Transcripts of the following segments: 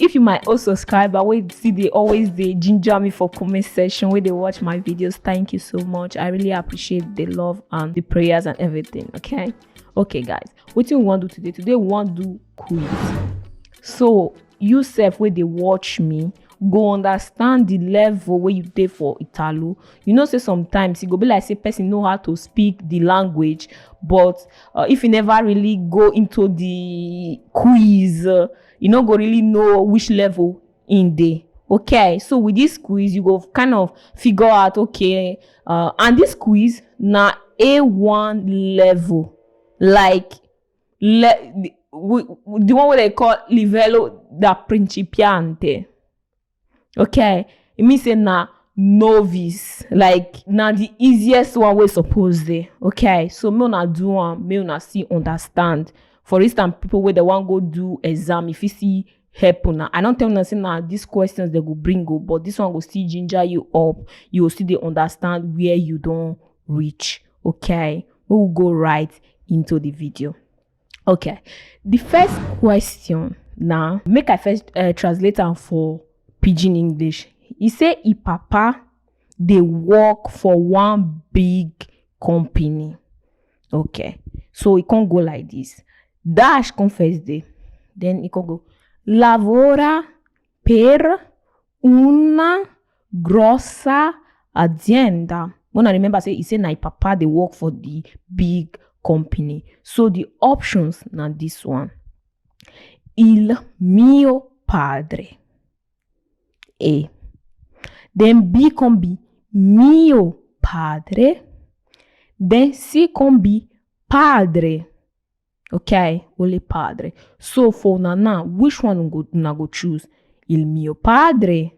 If you my old subscriber wey still dey always dey ginger me for comment section wey dey watch my videos, thank you so much. I really appreciate the love and the prayers and everything. Okay, okay, guys. What you want to do today? Today we want to do quiz. So you self wey dey watch me go understand the level wey you dey for Italo. You know say sometimes e go be like say person know how to speak the language, but uh, if you never really go into the quiz. Uh, you no go really know which level in dey okay so with this quiz you go kind of figure out okay uh, and this quiz na a1 level like le the, the one wey dem call livello da principiante okay e mean say na novice like na the easiest one wey suppose dey okay so make una do am make una still understand for instance people wey dey wan go do exam e fit still help una i don tell una say na these questions dem go bring o but this one go still ginger you up you go still dey understand where you don reach okay make we go right into the video. Okay. The first question now, make I first uh, translate am for pidgin English. He say e papa dey work for one big company. Okay. So e con go like this. Dash come first day. Then e con go lavora per una grossa azienda una remember say e say na im papa dey work for di big company so di options na dis one il mio padre e den b con be mio padre den c con be padre Okay, Holy Padre. So for una now, which one go, una go choose? Il mio padre,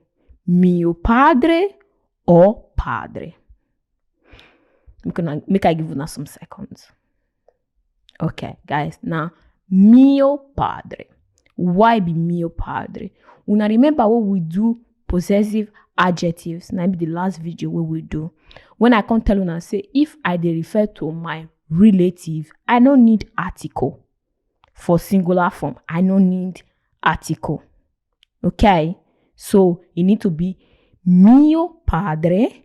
mio padre, or padre? Make, una, make I give una some seconds. Okay, guys, now mio padre. Why be mio padre? Una remember what we do possessive adjectives na be the last video wey we do when i come tell una say if i dey refer to my relative i no need article for singular form i no need article okay so e need to be mio padre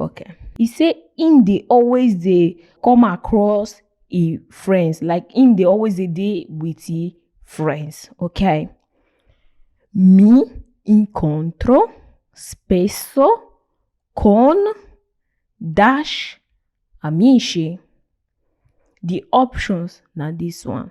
okay e say im dey always dey come across e friends like im dey always dey dey with e friends okay mi incontro spesso con dash amici the options na this one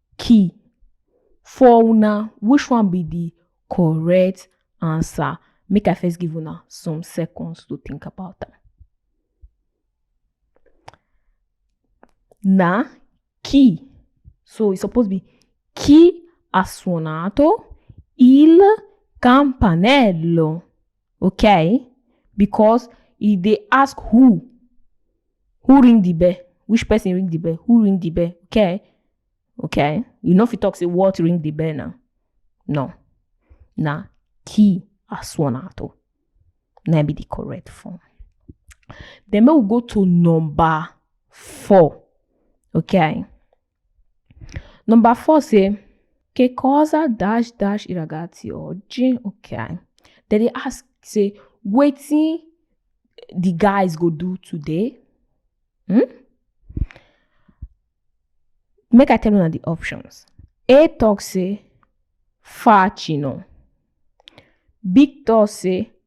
key for una which one be the correct answer make i first give una some seconds to think about am na chi so e suppose be chi ha suonato il campanello okay because e dey ask who who ring the bell which person ring the bell who ring the bell okay okay you no fit talk say what ring the bell now no na key asuonato na be the correct form then make we go to number four okay Number four say, che cosa dash dash i ragazzi oggi? Okay. Then they ask say, wetin the guys go do today? Hmm? Make I tell una the options. A talk say, facino. B talk say,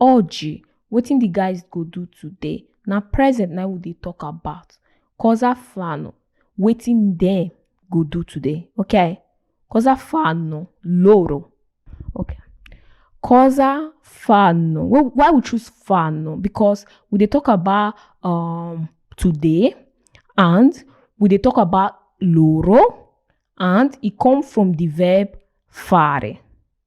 Orji, wetin the guys go do today? Na present na we dey talk about. Cosa flano, wetin dem go do today? Okay. Cosa fanno loro? Okay. Cosa fanno? Well, why we choose fanno? Because we dey talk about um today and we dey talk about loro and e come from the verb fare.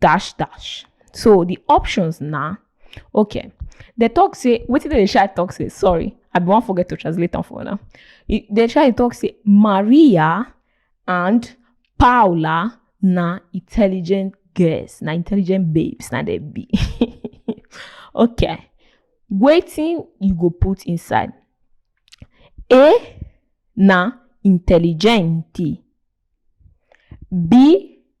dash dash so the options na okay the talk say wetin dey shy talk say sorry i bin wan forget to translate am for una E- the shy talk say maria and paula na intelligent girls na intelligent babes na dem be okay wetin you go put inside a na intelligenti b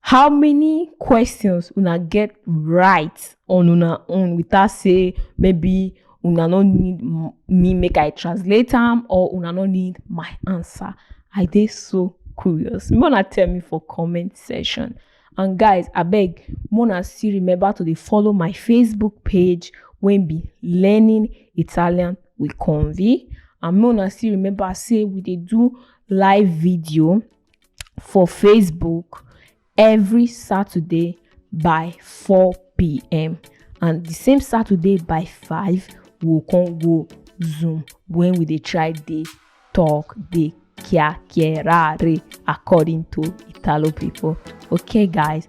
How many questions una get right on una own without say maybe una no need m- me make I translate am or una no need my answer? I dey so curious. Make una tell me for comment section. And guys, abeg, make una still remember to dey follow my Facebook page wey be Learning Italian with Convi. And make una still remember say we dey do live video for Facebook every Saturday by 4 p.m. and the same Saturday by 5 we'll come go Zoom when we dey try dey talk dey kia kierare according to Italo people. Okay guys,